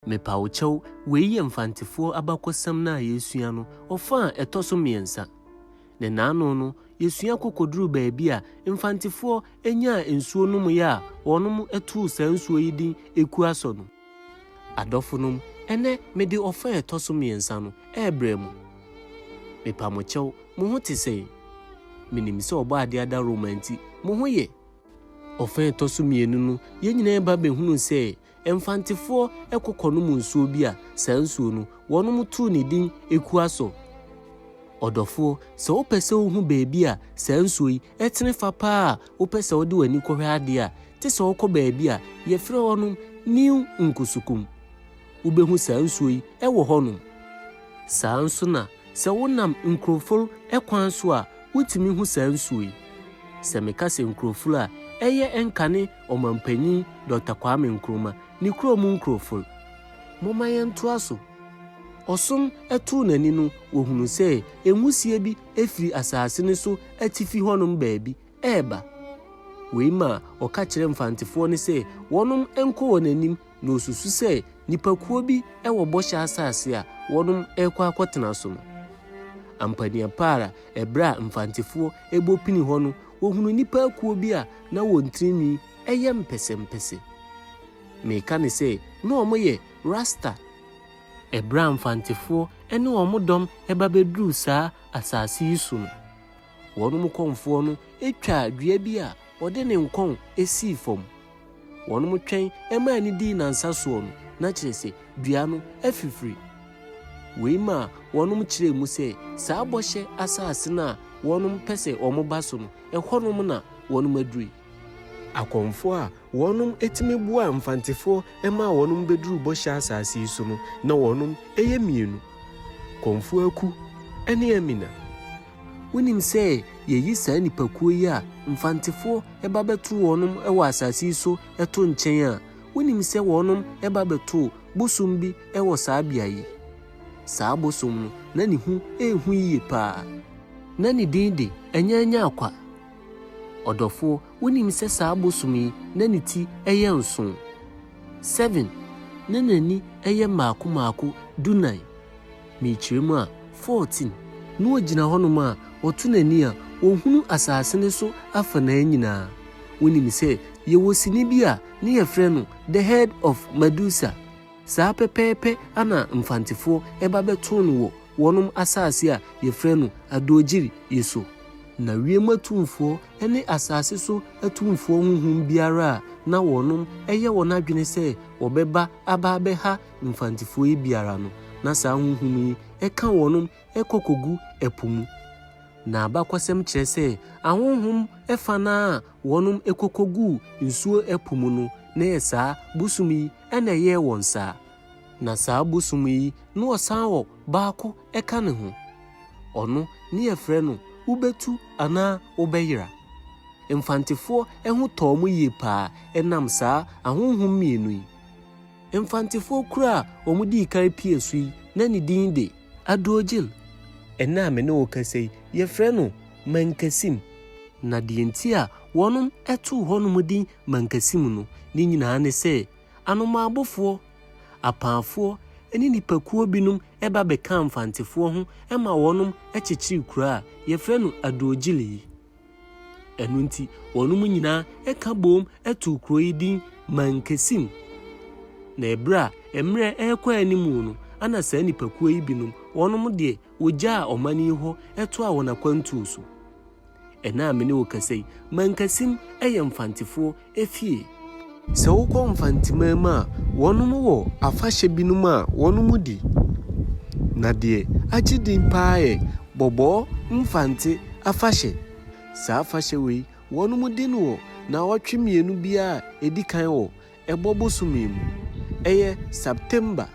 Mepa wo kyɛw, wei yɛ Mfantefoɔ abakɔsɛm no a yɛresua no ɔfã a ɛtɔ so mmiɛnsa. Ne naano no, yɛsua ko kɔduruu baabi a Mfantefoɔ nyaa nsuo nomeeɛ a wɔnom too saa nsuo yi din Ekuasɔ no. Adɔfonom, ɛnnɛ mede ɔfã a ɛtɔ so mmiɛnsa no rebrɛ mo. Mepa mo kyɛw, mo ho te sɛn? Menim sɛ Ɔbɔadeɛ adaworoma nti, mo ho yɛ. Ɔfã a ɛtɔ so mmienu no, yɛn nyinaa ba bɛhunuu sɛ Mfantefoɔ kɔ kɔnom nsuo bi a saa nsuo no wɔnom too ne din Ekuaso. Ɔdɔfoɔ, sɛ wopɛ sɛ wohu baabi a saa nsuo yi tene fa paa a wopɛ sɛ wode w'ani kɔhwɛ adeɛ a, gye sɛ wokɔ baabi a yɛfrɛ hɔnom New Nkusukum. Wobɛhu saa nsuo yi wɔ hɔnom. Saa nso na sɛ wonam Nkuroful kwan so a wotumi hu saa nsuo yi. Sɛ meka sɛ Nkuroful a, ɛyɛ Nkane Ɔmampanyin Dɔkta Kwame Nkrumah ne kurow mu nkurɔfo no, momma yɛntoa so. Ɔsom too n'ani no, wɔhunuu sɛ nwusie bi firi asase no so atifi hɔnom baabi reba. Wei maa ɔka kyerɛɛ Mfantefoɔ no sɛ wɔnom nkɔ wɔn anim na osusu sɛ nnipakuo bi wɔ Bɔhyɛ Asase a wɔrekɔ akɔtena so no. Ampaniapara, ɛberɛ a mfantefoɔ rebɔ pini hɔ no, wɔhunuu nnipa akuo bi a na wɔn tirinwi yɛ mpɛsɛmpɛsɛ. Meka no sɛ na wɔyɛ Rasta. Ɛberɛ a mfantefoɔ ne wɔn dɔm ba bɛduruu saa asase yi so no, wɔn kɔmfoɔ no twaa dua bi a ɔde ne nkɔn sii fam. Wɔtwɛn ma ani dii nnansa soɔ no, na kyerɛ sɛ, dua no afifiri. Wei maa wɔkyerɛɛ mu sɛ, saa bɔhyɛ asase no a wɔpɛ sɛ wɔba so no, ɛhɔnom na wɔaduru yi. Akɔmfoɔ a wɔtumi boaa Mfantefoɔ maa wɔbɛduruu bɔhyɛ asase yi so no, na wɔyɛ mmienu, Komfoaku ne Amina. Wonim sɛ yɛyi saa nnipakuo yi a Mfantefoɔ ba bɛto wɔnom wɔ asase yi so to nkyɛn a, wonim sɛ wɔnom ba bɛtoo bosom bi wɔ saa beaɛ yi. Saa bosom no, na ne hu rehu yie paa. Na ne din de Anyaanyaakwa. Ɔdɔfoɔ, wonim sɛ saa bosom yi na ne ti yɛ nson, seven, na n'ani yɛ mmaako mmaako, dunan. Mekyerɛ mu a, 14. Na ɔgyina hɔnom a, ɔto n'ani a, ɔhunu asase no so afanaa nyinaa. Wonim sɛ yɛwɔ sini bi a, ne yɛfrɛ no The Head of Medusa? Saa pɛpɛɛpɛ ana Mfantefoɔ ɛba bɛtoo no wɔ wɔnom asase a yɛfrɛ no Adodgiri yi so? Na wiem atumfoɔ ne asase so atumfoɔ honhom biara a na wɔnom ɛyɛ wɔn adwene sɛ wɔbɛba aba abɛha Mfantefoɔ yi biara no, na saa honhom yi ka wɔnom kɔ kɔgu ɛpo mu. Na abakɔsɛm kyerɛ sɛ ahonhom fa no ara a wɔnom kɔ kɔguu nsuo ɛpo mu no, na ɛyɛ saa bosom yi na ɛyɛɛ wɔn saa. Na saa bosom yi na wɔsan wɔ baako ka ne ho. Ɔno ne yɛfrɛ no Wobɛtu anaa Wobɛyera. Mfantefoɔ ho tɔɔ wɔn yie paa ɛnam saa ahonhom mmienu yi. Mfantefoɔ kuro a wɔdii kan pii asu yi, na ne din de. Adrogyl. Ɛnnɛ a me ne wo kasa yi, wɔfrɛ no Mankasim. Na deɛ nti a wɔnom too hɔnom din Mankasim no, ne nyinaa ne sɛ, Anomabofoɔ, Apaafoɔ, ne nnipakuo binom ba bɛkaa Mfantefoɔ ho ma wɔnom kyekyeree kuro a wɔfrɛ no Adrogyl yi. Ɛno nti, wɔnom nyinaa ka boom too kuro yi din Mankesim. Na ɛberɛ a mmerɛ rekɔ anim no, ɛna saa nnipakuo yi binom, wɔnom deɛ wɔgyaa ɔman yi hɔ toaa wɔn akwantuo so. Ɛna a me ne wo kasa yi, Mankesim yɛ Mfantefoɔ fie. Sɛ wokɔ Mfantsiman mu a, wɔnom wɔ afahyɛ binom a wɔnom di. Na deɛ agye din paa yɛ Bɔbɔɔ Mfantse afahyɛ. Saa afahyɛ wei, wɔnom di no wɔ naawɔtwe mmienu biara a ɛdi kan wɔ ɛbɔ bosome mu. Ɛyɛ September.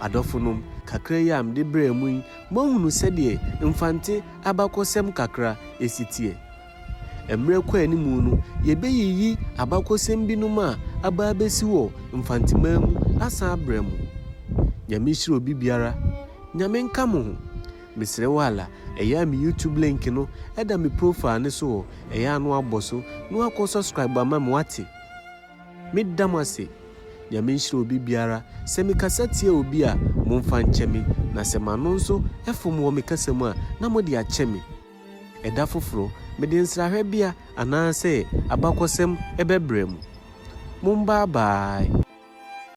Adɔfonom, kakra yi a mede brɛɛ mo yi, moahunu sɛdeɛ Mfantse abakɔsɛm kakra si teɛ. Mmerɛ kɔ anim no, yɛbɛyiyi abakɔsɛm binom a aba abɛsi wɔ Mfanteman mu asan abrɛ mo. Nyame nhyira obi biara. Nyame nka mo ho. Mesrɛ wo ala, ɛyɛ a me YouTube link no da me profile no so hɔ, ɛyɛ a na wabɔ so na wakɔ subscribe ama me wate. Meda mo ase. Nyame nhyira obi biara. Sɛ me kasa tia obi a, momfa nkyɛ me, na sɛ m'ano nso fom wɔ me kasa mu a, na mode akyɛ me. Ɛda foforo, mede nsrahwɛbea anaasɛ abakɔsɛm bɛbrɛ mo. Mombaa baae!